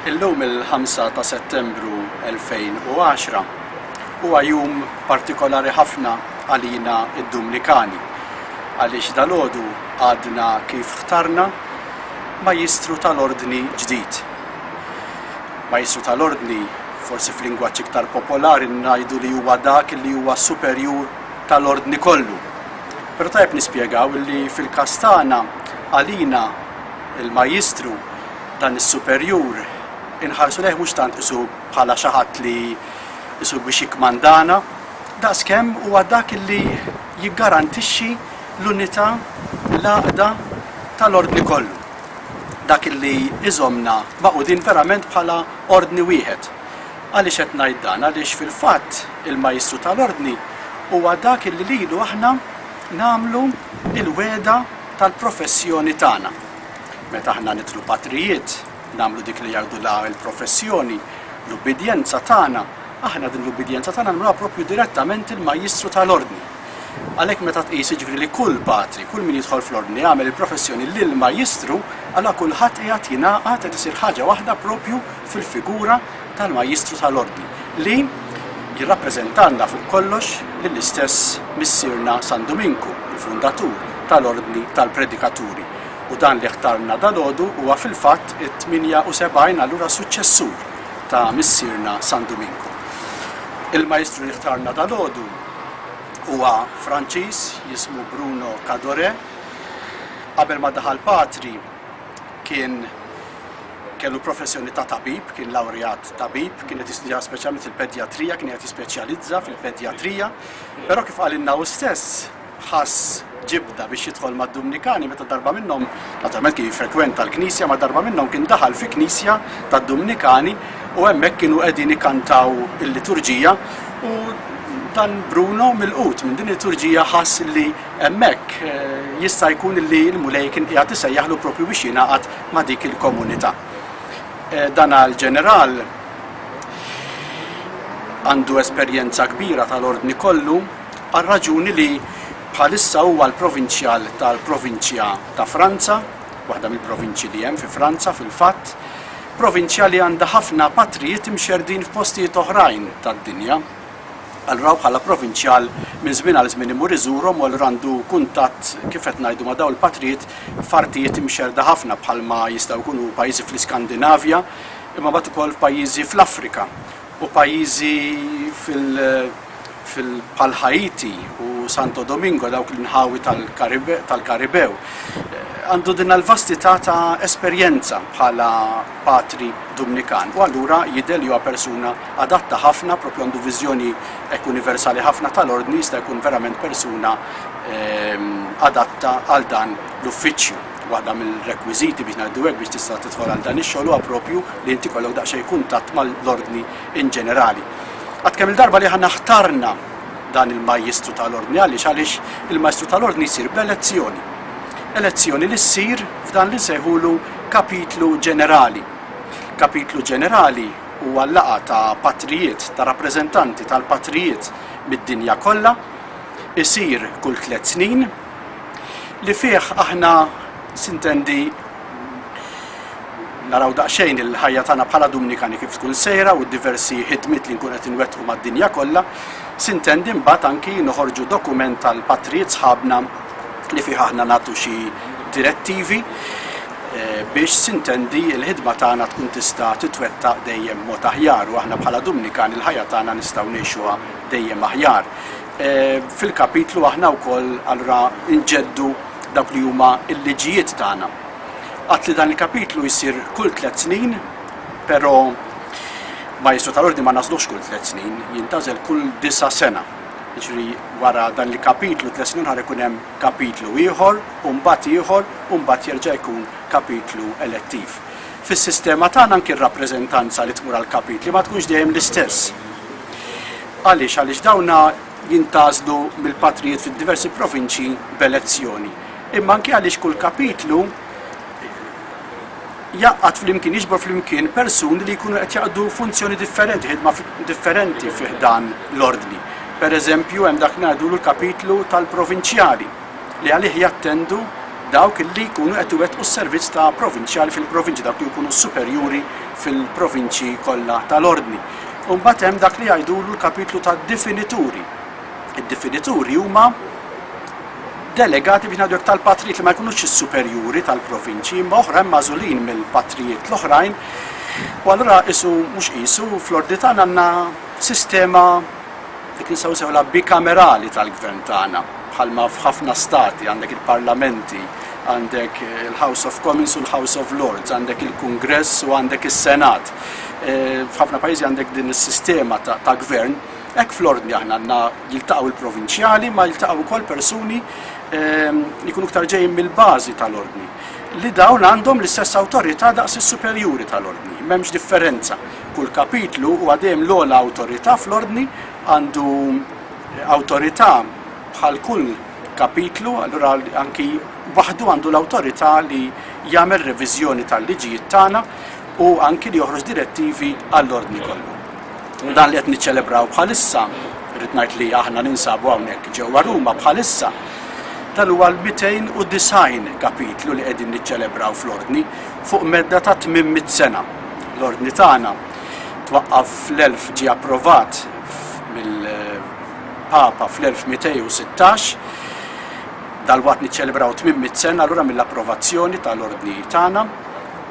Illum il-5 ta' Settembru 2010 huwa jum partikolari ħafna għalina id-Dumnikani għaliex dalodu għadna kif ħtarna majjistru tal-ordni ġdid. Majjistru tal-ordni forsi f'lingwaġġ iktar popolari ngħidu li huwa dak li huwa superjur tal-ordni kollu. Però tajjeb nispjegaw li fil-każ tagħna, għalina, il-Majjistru, dan is-superjur, inħarsu lejh mhux tant qisu bħala xi ħadd li qisu biex jikkmandana, daqskemm huwa dak li jiggarantixxi l-unità, l-għaqda tal-Ordni kollu, dak li iżommna magħqudin verament bħala Ordni wieħed. Għaliex qed ngħid dan? Għaliex fil-fatt il-Majstru ta' l-Ordni huwa dak illi lilu aħna nagħmlu l-wegħda tal-professjoni tagħna. Meta aħna nidħlu patrijiet, nagħmlu dik li jgħidulha l-professjoni, l-ubbidjenza tagħna, aħna din l-ubbidjenza tagħna nagħmluha proprju direttament il-Majstru ta' l-Ordni. Għalhekk meta tqis jiġifieri li kull patri, kull min jidħol fl-Ordni jagħmel il-professjoni lill-Majstru, allura kulħadd qiegħed jingħaqad, qed isir ħaġa waħda proprju fil-figura tal-Majjistru tal-Ordni li jirrappreżentalna fuq kollox lill-istess Missierna San Duminku, il-Fundatur tal-Ordni tal-Predikaturi. U dan li ħtarna dalgħodu huwa fil-fatt it-78 allura suċċessur ta' Missierna San Duminku. Il-Majjistru li ħtarna dalgħodu huwa Franċiż jismu Bruno Cadore. Qabel ma daħal patri kien Kellu professjoni ta' tabib, kien lawrejat tabib, kien qed jistudja speċjalment il-pedjatrija, kien qed jispeċjalizza fil-pedjatrija, però kif qalilna hu stess, ħass ġibda biex jidħol mad-Dumnikani meta darba minnhom, naturalment kien jiffrekwenta l-knisja, ma darba minnhom kien daħal fi knisja tad-Dumnikani u hemmhekk kienu qegħdin ikkantaw il-liturġija u dan Bruno mill-qut minn din il-liturġija ħass li Hemmhekk jista' jkun li l-Mulej kien qiegħed isejjaħlu proprju biex jingħaqad ma' dik il-komunità. Dan għal ġeneral għandu esperjenza kbira tal-Ordni kollu għar-raġuni li bħalissa huwa l-provinċjal tal-provinċja ta' Franza, waħda mill-provinċji li hemm fi Franza fil-fatt, provinċja li għandha ħafna patrijiet imxerrdin f'postijiet oħrajn tad-dinja. Allura bħala provinċjal minn żmien għal żmien imur iżurhom u allura għandu kuntatt kif qed ngħidu ma' dawn il-patrijiet f'artijiet imxerrda ħafna bħalma jistgħu jkunu pajjiżi fl-Iskandinavja imma mbagħad ukoll f'pajjiżi fl-Afrika u pajjiżi fil fil bħal Ħaiti u Santo Domingo dawk l-inħawi tal-Karibew. Għandu din l-vastità ta' esperjenza bħala patri Dumnikan u allura jidher li huwa persuna adatta ħafna, propju għandu viżjoni hekk universali ħafna tal-Ordni jista' jkun verament persuna adatta għal dan l-uffiċċju. Waħda mill-rekwiżiti biex ngħidu hekk biex tista' tidħol għal dan ix-xogħol huwa propju li inti jkollok daqsxejn kuntatt mal-Ordni in ġenerali. Għad kemm-il darba li aħna ħtarna dan il-Majjistru tal-Ordni għaliex għaliex il-Majstru tal-Ordni jsir b'elezzjoni. Elezzjoni li ssir f'dan li nsejħulu kapitlu ġenerali. Kapitlu ġenerali huwa l-laqgħa ta' patrijiet, ta' rappreżentanti tal-patrijiet mid-dinja kollha, isir kull tliet snin, li fih aħna, sintendi, naraw daqsxejn il-ħajja tagħna bħala Dumnikani kif tkun sejra u d-diversi ħidmiet li nkunu qed inwettqu mad-dinja kollha, sintendi mbagħad anki noħorġu dokument għall-patrijiet sħabna li fih aħna nagħtu xi direttivi. biex sintendi l-ħidma tagħna tkun tista' titwettaq dejjem b'mod aħjar u aħna bħala Dumnikan il-ħajja tagħna nistgħu ngħixuha dejjem aħjar. Fil-kapitlu aħna wkoll allura nġeddu dawk li huma l-liġijiet tagħna. Għadt li dan il-kapitlu jsir kull tliet snin, però Maestru tal-Ordni ma nagħżluhx kull tliet snin, jintgħażel kull disa' sena. Jiġri wara dan il-kapitlu tliet snin ħar ikun hemm kapitlu ieħor u mbagħad ieħor u mbagħad jerġa' jkun kapitlu elettiv. Fis-sistema tagħna anki r-rappreżentanza li tmur għall-kapitli ma tkunx dejjem l-istess. Għaliex? Għaliex dawn jintgħażlu mill-patrijiet fid-diversi provinċji b'elezzjoni. Imma anki għaliex kull kapitlu jgħaqqad flimkien, jiġbor flimkien persuni li jkunu qed jaqdu funzjoni differenti, ħidma differenti fi ħdan l-Ordni. Per eżempju, hemm dak ngħidulu l-kapitlu tal-provinċjali li għalih jattendu dawk li jkunu qed iwettqu s-servizz ta' provinċjali fil-provinċi, dawk li jkunu superjuri fil-provinċi kollha tal-Ordni. U mbagħad hemm dak li jgħidulu l-kapitlu tad-difinituri, id-definituri huma delegati biex ngħidu hekk tal-patrijiet li ma jkunux is-superjuri tal-provinċji imma oħrajn magħżulin mill-patrijiet l-oħrajn u allura isu mhux qisu fl-ordni tagħna għandna sistema dik li nistgħu sewla bikamerali tal-gvern tagħna bħalma f'ħafna stati għandek il-parlamenti għandek il-House of Commons u l-House of Lords, għandek il-Kongress u għandek il-Senat. Eh, f'ħafna pajjiżi għandek din is-sistema ta' gvern Hekk fl-Ordni aħna għandna jiltaqgħu l-provinċjali ma jiltaqgħu wkoll persuni li jkunu iktar ġejjin mill-bażi tal-Ordni li dawn għandhom l-istess awtorità daqs is-superjuri tal-Ordni, m'hemmx differenza. Kull kapitlu huwa dejjem l-ogħla awtorità fl-Ordni għandu awtorità bħal kull kapitlu, allura anki waħdu għandu l-awtorità li jagħmel reviżjoni tal-liġijiet tagħna u anki li joħroġ direttivi għall-Ordni kollu. Dan li qed niċċelebraw bħalissa, rrid ngħid li aħna ninsabu hawnhekk ġewwa Ruma bħalissa, dan huwa l-290 kapitlu li qegħdin niċċelebraw fl-Ordni fuq medda ta' 800 sena. L-Ordni tagħna twaqqaf fl-1000 ġie approvat mill-Papa fl-1216 dal-waqt niċċelebraw 800 sena allura mill-approvazzjoni tal-Ordni tagħna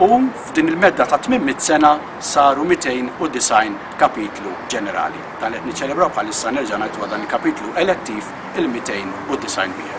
u f'din il-medda ta' 800 sena saru 290 kapitlu ġenerali. Dan li qed niċċelebraw bħalissa nerġa' ngħid huwa dan il-kapitlu elettiv il-290 wieħed.